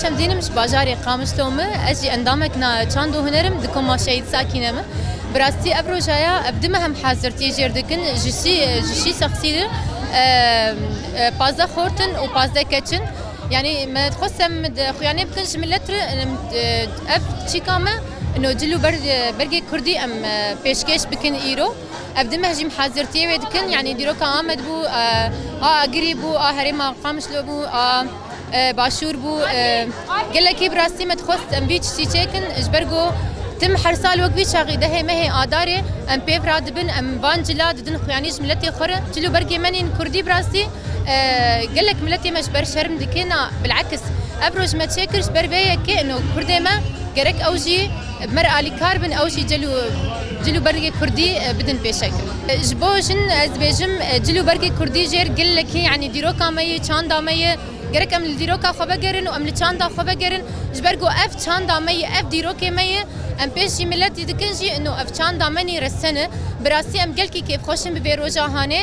Şemdînim ji bajarê Qamişlo me ez jî endamek na çand û hunerim di koma Şehîd Sakîne me. Bi rastî ev rojaya ev dime hem hezirtiyê jêr dikin ji şî ji şî sexsî de pazde xortin û pazde keçin Yanî me dixwest em xuyanê bikin ji milet re ev çîka me no cil û bergê kurdî em pêşkêş bikin îro. Ev di meh jî hazirtiyê wê dikin yanî dîroka Amed bû, a Agirî bû, a herêma Qamişlo bû, a Başûr bû. Gelekî bi rastî me dixwest em vî tiştî çêkin ji ber ku tim her sal wek vî çaxî dehê mehê adarê em pêv radibin em van cila didin xuyanî ji miletê xwe re. Cil û bergê me nîn kurdî bi rastî. Gelek miletê me ji ber şerm dikin a bil'eks ev roj me çêkir ji ber vê yekê ino kurdê me gerek ew jî bi me re alîkar bin ew jî cil û cil û bergê kurdî bidin pêşek. Ji bo jin ez dibêjim cil û bergê kurdî jêr gelekî yanî dîroka me ye çanda me ye gerek em li dîroka xwe vegerin û em li çanda xwe vegerin ji ber ku ev çanda me ye ev dîrokê me ye em pêş jî miletî dikin jî ino ev çanda me nî resen e bi rastî em gelkî kêfxweş in bi vê roja hanê.